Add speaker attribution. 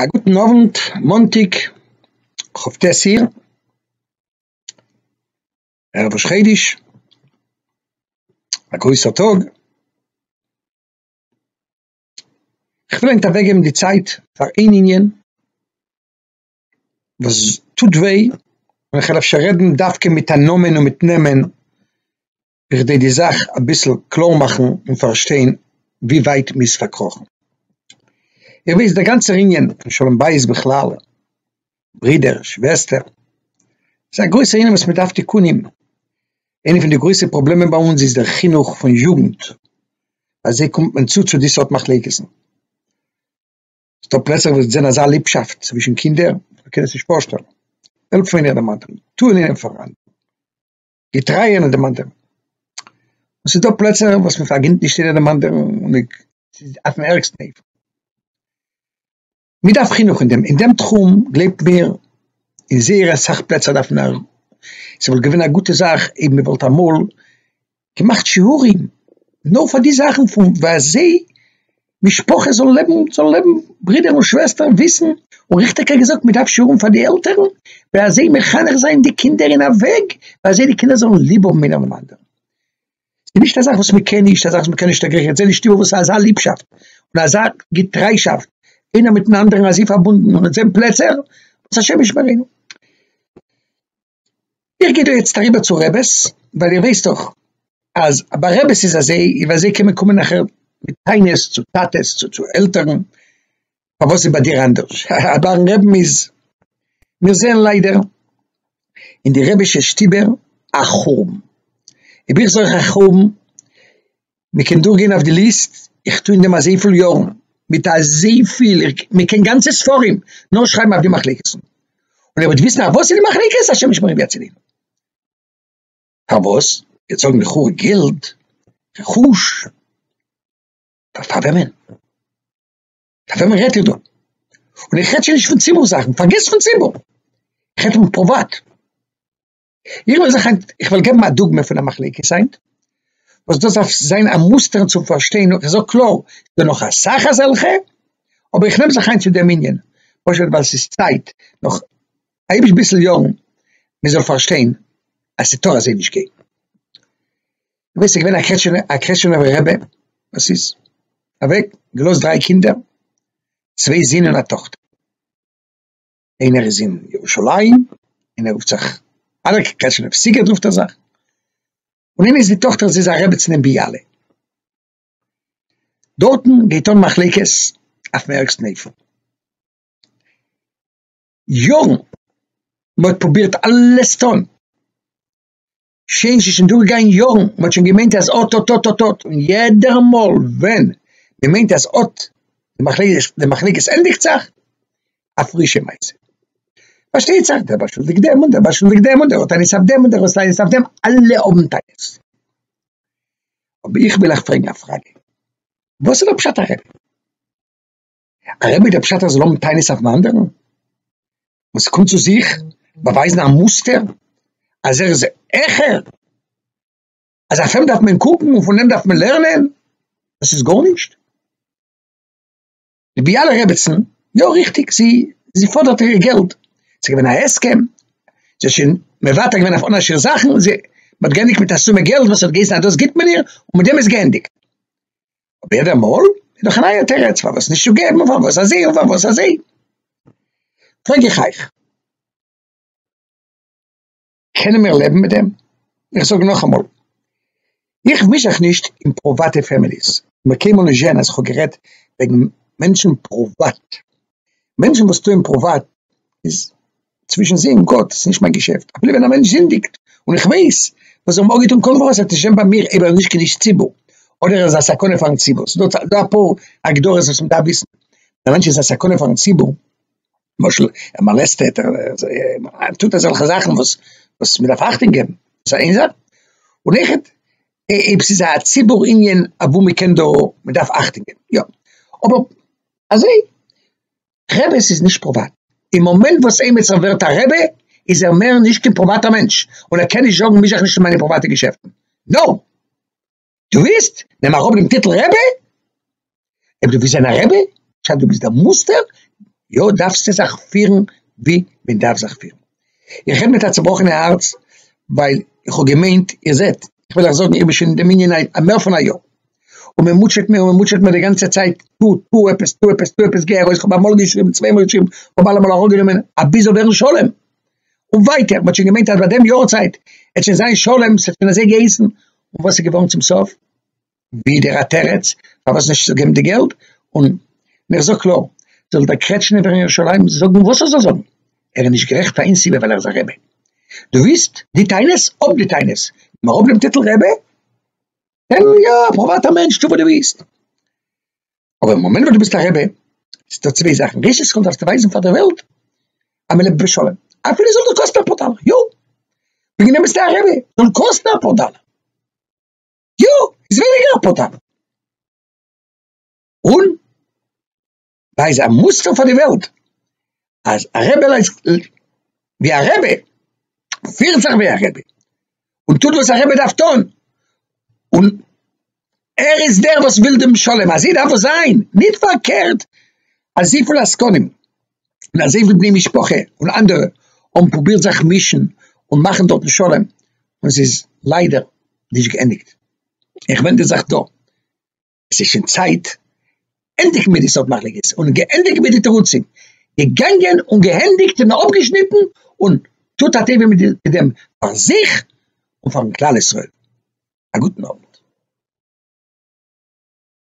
Speaker 1: א גוטן אוונט, מאנטאג כ ט אייר, ערב ראש חודש, א גרויסער טאג, כ'וויל היינט אוועק געבן די צייט פאר איין ענין וואס טוט וויי, און כ'וועל אפשר רעדן דווקא מיט א נאמען און מיט נעמען. בכדי די זאך אביסל קלאר מאכן און פארשטיין ווי ווייט מ'איז פארקראכן. איר וויסט דער גאנצער ענין פון שלום בית בכלל, ברידער, שוועסטער, איז א גרויסער ענין וואס מ'דארף תיקונים. איינע פון די גרויסע פראבלעמען ביי אונז איז דער חינוך פון יוגנט, ביי זיי קומט מען צו צו די סארט מחלוקת'ן. ס'דא פלעצער וואס זענען אזא ליבשאפט צווישן קינדער, מ'קען עס נישט פארשטעלן. טעלפאונירט דעם אנדערן, טוה און ליין אים פאר. געטרייע און דערמאנטע. עס איז דא פלעצער וואס מען פארגינט נישט יעדער דערמאנטע און מעג, ס'איז אויפן ערגסטן אופן. מען דארף חינוך אין דעם, אין דעם תחום, גלייבט מיר, אין זייער אסאך פלעצער דארף מען א, ס'וואלט געווען א גוטע זאך אויב מען וואלט אמאל געמאכט שיעורים נאר פאר די זאכן פון וואס זיי משפחה זאל לעבן, זאל לעבן, ברידער און שוועסטער וויסן, און ריכטיגער געזאגט, מען דארף שיעורים פאר די עלטערן, ווי אזוי מחנך זיין די קינדער אין א וועג ווי אזוי די קינדער זאלן ליב האבן אינעם אנדערן. ס'איז נישט א זאך וואס מען קען נישט, א זאך וואס מען קען נישט עגריען, איך זע נישט איבער וואס אזא ליבשאפט און אזא געטריישאפט איינער מיט'ן אנדערן אזוי פארבונדן און אונז זען פלעצער וואס השם ישמרינו. איך גיי דא יעצט אריבער צו רעבעס, ווייל איר ווייסט דאך אז ביי רעבעס איז אזוי, און ביי זיי קען מען קומען נאכער מיט טענות צו טאטעס צו צו עלטערן, פארוואס איז ביי דיר אנדערש? האהא, ביי'ן רעבן איז, מיר זעען ליידער אין די רעבישע שטיבער א חורבן, און ווי איך זוך א חורבן מען קען דורך גיין אויף די ליסט, איך טוה אין דעם אזויפיל יארן, מיט אזויפיל, מען קען גאנצע ספרים נאר שרייבן אויף די מחלוקת'ן, און ער וועט וויסן אויף וואס איז די מחלוקת, השם ישמרינו ויצילנו. פארוואס? וועט זאגן לכאו' געלד, רכוש, פאר פאר וועמען? פאר וועמען רעדט איר דא? און איך רעד שוין נישט פון ציבור זאכן, פארגעס פון ציבור, איך רעד פון פריוואט. איך וועל זיך היינט, איך וועל געבן א דוגמא פון א מחלוקת היינט, וואס דאס דארף זיין א מוסטער צום פארשטיין, איך זאג קלאר, ס'איז דא נאך אסאך אזעלכע, אבער איך נעם זיך היינט צו דעם ענין, פשוט ווייל ס'איז צייט, נאך היבש ביסל יארן, מען זאל פארשטיין אז ס'טאר אזוי נישט גיין. דו ווייסט ס'איז געווען א קרעטשנע, א קרעטשענעווער רבי, וואס איז אוועק, געלאזט דריי קינדער, צוויי זין און א טאכטער. איינער איז אין ירושלים און ער רופט זיך אלעק קעשענעווסיקער רופט ער זיך, און איינער איז די טאכטער זי איז א רעבעצין אין ביאלע, דארטן גייט אן מחלוקת אויפן ערגסטן אופן, יארן, מען האט פרובירט אלעס צו טון, שוין ס'איז שוין דורגעגאנגען יארן, מען האט שוין געמיינט אז אט אט אט אט אט, און יעדער מאל ווען מען מיינט אז אט די מחלוקת די מחלוקת ענדיגט זיך, א פרישע מעשה. פארשטייט זיך דער באשולדיגט דעם און דער באשולדיגט דעם און דער האט טענות אויף דעם און דער האט טענות אויף דעם, אלע האבן טענות. אבער איך וויל אייך פרעגן א פראגע, וואס איז דער פשט הרמב ם? א רבי דער פשט אז זאל האבן טענות אויפן אנדערן, וואס ס'קומט צו זיך באווייזן א מוסטער אז ער איז העכער, אז אויף אים דארף מען קוקן און פון אים דארף מען לערנען, דאס איז גארנישט. די ביאלע רעבעצן, יא ריכטיג זי זי פאדערט איר געלט, ס'איז געווען א הסכם, זי האט שוין מוותר געווען אויף אן א שיר זאכן, זי האט געענדיגט מיט א סומע געלט וואס האט געהייסן אז דאס גיבט מען איר און מיט דעם איז געענדיגט. אבער יעדע מאל איז דאך א נייע תירוץ פארוואס נישט צו געבן און פארוואס אזוי און פארוואס אזוי. פרעג איך אייך, קענען מיר לעבן מיט דעם? איך זאג נאכאמאל, איך מיש זיך נישט אין פריוואטע פעמיליס, איך האב קיינמאל נישט געזען אז איך האב גערעדט וועגן מענטשן פריוואט, מענטשן וואס טוען פריוואט איז צווישן זיי און גאט, ס'נישט מיין געשעפט, אפילו ווען א מענטש זינדיגט און איך ווייס וואס זיי האבן אפגעטון קודם פארוואס ער טשענט ביי מיר אויב ער איז נישט קדוש ציבור אדער ער איז א סכנה פארן ציבור, ס'איז דא דא אפאר הגדרות וואס מ'דארף וויסן, א מענטש איז א סכנה פארן ציבור, למשל ער מאלעסטעט ער טוט אזעלכע זאכן וואס וואס מ'דארף אכטונג געבן, דאס איז איין זאך, און אויכעט אויב ס'איז א ציבור ענין אוואו מ'קען דא מ'דארף אכטונג געבן יא אבער. אזוי רעבעס איז נישט פראוואט אין מאמענט וואס עימיצער ווערט א רעבע איז ער מער נישט קיין פראוואטער מענטש און ער קען נישט זאגן מיש זיך נישט אין מיינע פראוואטע געשעפטן נאו דו ווילסט נעם אראפ דעם טיטל רעבע אויב דו ווילסט זיין א רעבע שאט דו ביסט דער מוסטער יא דארפסטו זיך פירן ווי מען דארף זיך פירן. איך רעד מיט א צובראכענע הארץ, ווייל איך האב געמיינט, איר זעט, איך וועל אייך זאגן, איך בין שוין אין דעם ענין א א מער פון א יאר, און מען מוטשעט מיר און מען מוטשעט מיר די גאנצע צייט, טו, טו עפעס, טו עפעס, טו עפעס, גיי ארויס, כ'האב אמאל געשריבן, צוויי מאל געשריבן, כ'האב אלעמאל אראפגענומען, אבי זאל ווערן שלום. און ווייטער, מען האט שוין געמיינט אז ביי דעם יארצייט וועט שוין זיין שלום, ס'האט שוין אזוי געהייסן, און וואס איז געווארן צום סוף? ווידער א תירץ פארוואס נישט צו געבן די געלט, און איך זאג קלאר, זאל דער קרעטשניפער אין ירושלים זאגן וואס ער זאל זאגן, ער איז נישט גערעכט פאר איין סיבה ווייל ער איז א רבי. דו ווילסט די טענות, האב די טענות, גיב אראפ דעם טיטל רבי, זיי יא א פריוואטער מענטש, טו וואס דו ווילסט, אבער אין מאמענט וואס דו ביסט א רבי, איז דא צוויי זאכן, ראשית כל דארפסטו ווייזן פאר דער וועלט אז מען לעבט בשלום, אפילו זאל דאס קאסטן אפאר דאלער, יא, וועגן דעם ביסטו א רבי, זאל קאסטן אפאר דאלער. יא, איז ווייניגער א פאטאפ. און דא איז א מוסטער פאר די וועלט, אז א רבי לייפט ווי א רבי, פירט זיך ווי א רבי, און טוט וואס א רבי דארף טון, און ער איז דער וואס וויל דעם שלום, אזוי דארף עס זיין, נישט פארקערט אזויפיל עסקנים. און אזוי ווי בני משפחה און אנדערע האבן פרובירט זיך מישן און מאכן דארטן שלום און עס איז ליידער נישט געענדיגט. איך ווענד די זאך דא, עס איז שוין צייט ענדיגן מיט די סארט מחלוקת און געענדיגן מיט די תירוצים, געגאנגען און געענדיגט און אפגעשניטן און טוט א טובה מיט דעם פאר זיך און פארן כלל ישראל. א גוטן אוונט.